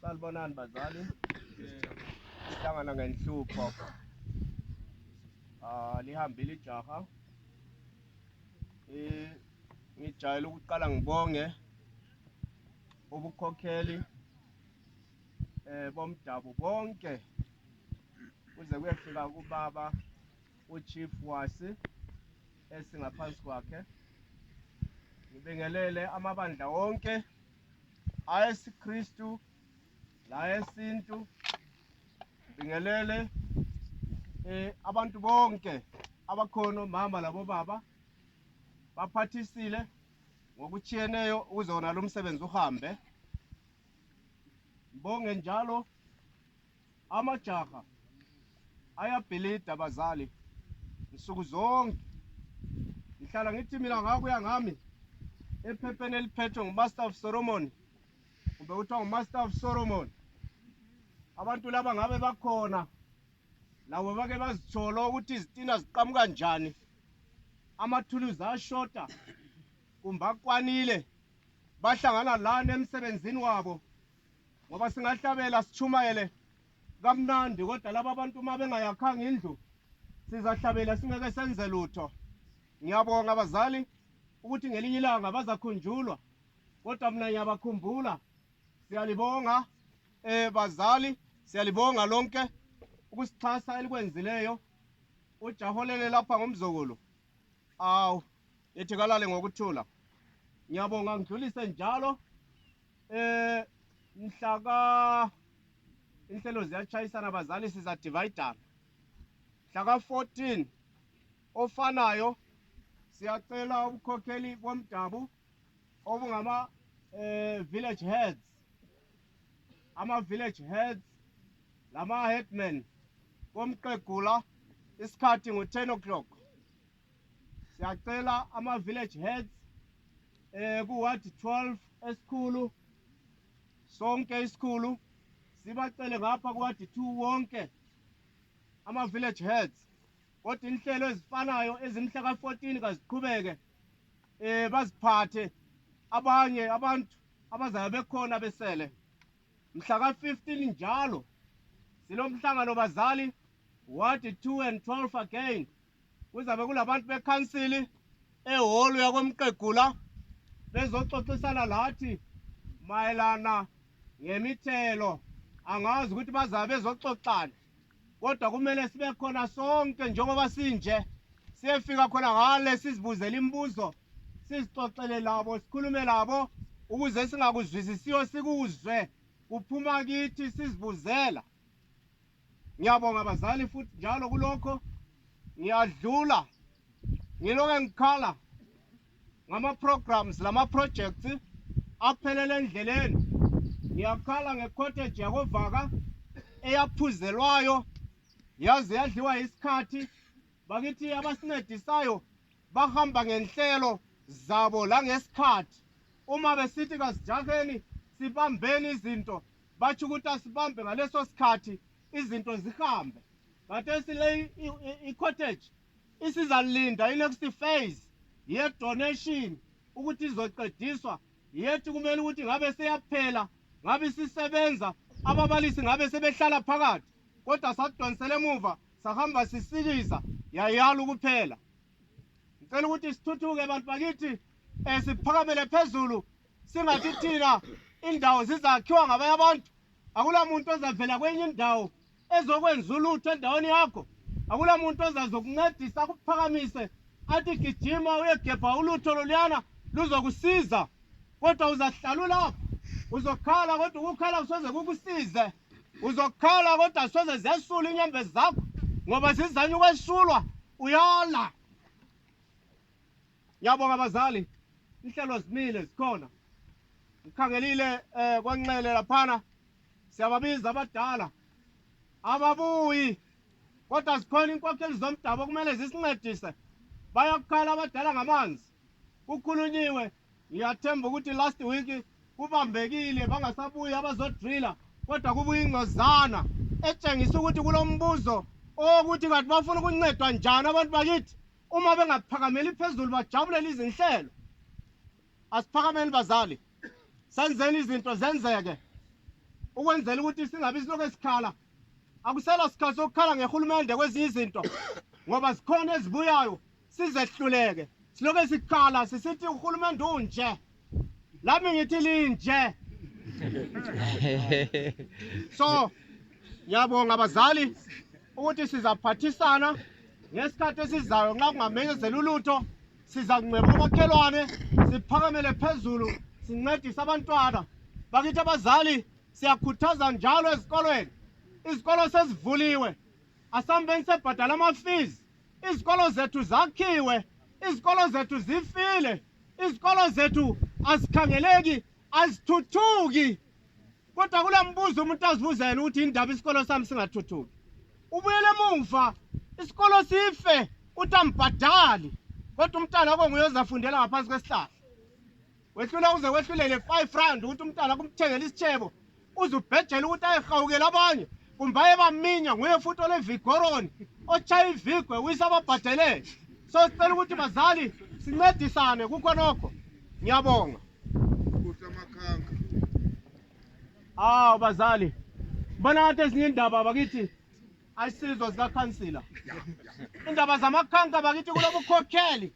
Sanibonani bazali. Sihlangana ngenhlupho. Ah lihambile ijaha. Eh ngijayele ukuqala ngibonge ubukhokheli eh bomdabu bonke kuze kuyefika kubaba uChief Wasi esingaphansi kwakhe ngibingelele amabandla wonke ayesiKristu layesintu ngibingelele eh abantu bonke abakhona mama labo baba baphathisile ngokutshiyeneyo ukuze wona lo msebenzi uhambe bonge njalo Amajaha ayabhilida bazali nsuku zonke ngihlala ngithi mina ngakuya ngami ephepheni eliphethwe ngumaster of solomon kumbe kuthiwa ngumaster of solomon abantu laba ngabe bakhona labo bake bazitholo ukuthi izitina ziqamuka njani amathuluzi ashota kumbe akwanile bahlangana lani emsebenzini wabo ngoba singahlabela sitshumayele kamnandi kodwa laba abantu uma bengayakhanga indlu sizahlabela singeke senze lutho ngiyabonga abazali ukuthi ngelinye ilanga bazakhunjulwa kodwa mina ngiyabakhumbula siyalibonga eh bazali siyalibonga lonke ukusixhasa elikwenzileyo ujaholele lapha ngomzukulu awu yethi kalale ngokuthula ngiyabonga ngidlulise njalo Eh mhlaka inhlelo ziyachayisana bazali siza divider. Mhlaka 14 ofanayo siyacela ubukhokheli bomdabu obungama eh village heads ama village heads lama headmen bomqegula isikhathi ngo 10 o'clock siyacela ama village heads eh ku ward 12 esikhulu sonke isikhulu sibacele ngapha ku ward 2 wonke ama village heads kodwa inhlelo ezifanayo ezimhla ka-14 kaziqhubeke eh baziphathe abanye abantu abazayo bekhona besele mhla ka-15 njalo silomhlangano bazali ward 2 and 12 again kuzabe kulabantu bekhansili ehholo yakwemqegula bezoxoxisana lathi mayelana ngemithelo angazi ukuthi bazabe bezoxoxana kodwa kumele sibe khona sonke njengoba sinje siyefika khona ngale sizibuzele imibuzo sizixoxele labo sikhulume labo ukuze singakuzwisisiyo sikuzwe kuphuma kithi sizibuzela Ngiyabonga bazali futhi njalo kulokho ngiyadlula ngiloke ngikhala ngama-programs lama-projects aphelele endleleni ngiyakhala ngecottage yakovaka eyaphuzelwayo yaze yadliwa isikhathi bakithi abasincedisayo bahamba ngenhlelo zabo langesikhathi uma besithi kasijaheni sibambeni izinto batsho ukuthi asibambe ngaleso sikhathi izinto zihambe khathesi le i-cottage isizalinda i-next phase ye-donation ukuthi izoqediswa yethi kumele ukuthi ngabe seyaphela ngabe isisebenza ababalisi ngabe sebehlala phakathi kodwa sadonsela emuva sahamba sisikiza yayala ukuphela ngicela ukuthi sithuthuke bantu bakithi um siphakamele phezulu singathi thina indawo zizakhiwa ngabanye abantu akula muntu ozavela kwenye indawo ezokwenza ulutho endaweni yakho akula muntu ozazokuncedisa akuphakamise athi gijima uyegebha ulutho loluyana luzokusiza kodwa uzahlala ulapho uzokhala kodwa ukukhala kusoze kukusize uzokhala kodwa soze ziyasula inyembezi zakho ngoba zizanye ukwesulwa uyala Ngiyabonga abazali, inhlelo zimile zikhona. Ngikhangelile eh kwanxele laphana siyababiza abadala ababuyi kodwa zikhona inkokheli zomdabu okumele zisincedise bayakukhala abadala ngamanzi kukhulunyiwe ngiyathemba ukuthi last week kubambekile bangasabuyi abazodrila kodwa kubuya ingcozana etshengisa ukuthi kulombuzo owokuthi kanti bafuna ukuncedwa njani abantu bakithi uma bengaphakameli phezulu bajabulele izinhlelo asiphakameli bazali senzeni izinto zenzeke ukwenzela ukuthi singabi silokhu esikhala akusela sikhathi sokukhala ngehulumende kwezinye izinto ngoba zikhona ezibuyayo sizehluleke silokhu esikhala sisithi uhulumende unje lami ngithi linje so ngiyabonga abazali ukuthi sizaphathisana ngesikhathi esizayo nxa kungamenyezela ulutho siza kunxeba omakhelwane siphakamele phezulu sincedise abantwana bakithi abazali siyakhuthaza njalo ezikolweni izikolo sezivuliwe asambeni sebhadala amafees izikolo zethu zakhiwe izikolo zethu zifile izikolo zethu azikhangeleki azithuthuki kodwa kula mbuzo umuntu azibuza yena ukuthi yindaba isikolo sami singathuthuki ubuyele emuva isikolo sife uthi ambhadali kodwa umntana konguye ozafundela ngaphansi kwesihlahla wehlula uze wehlulele five rand ukuthi umntana kumthengela isitshebo uze ubhejele ukuthi ayehawukele abanye kumbe ayebaminya nguye futhi olevigoroni otshaya ivigwe wise ababhadelele so sicela ukuthi bazali sincedisane kukho nokho ngiyabonga awu bazali bona ngathi ezinye indaba bakithi ayisizwa zikakhansila indaba zamakhanka bakithi kulobukhokheli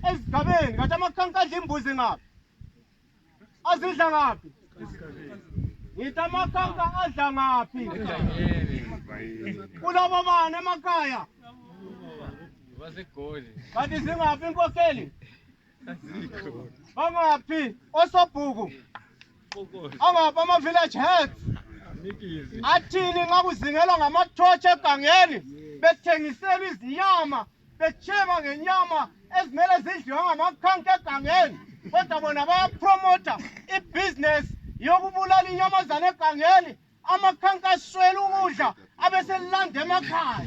ezigabeni kathi amakhanka adla imbuzi ngaphi azidla ngaphi ngithi amakhanka adla ngaphi kulabo bani emakhaya kanti zingaphi inkokheli bangaphi osobhuku angaphi ama-village heads athini nxa kuzingelwa ngamathotshi egangeni bethengisela izinyama betsheba ngenyama ezimele zidliwe ngamakhanka egangeni kodwa bona bayapromotha ibhizinesi yokubulala inyamazana egangeni amakhanka aswela ukudla abeselanda emakhaya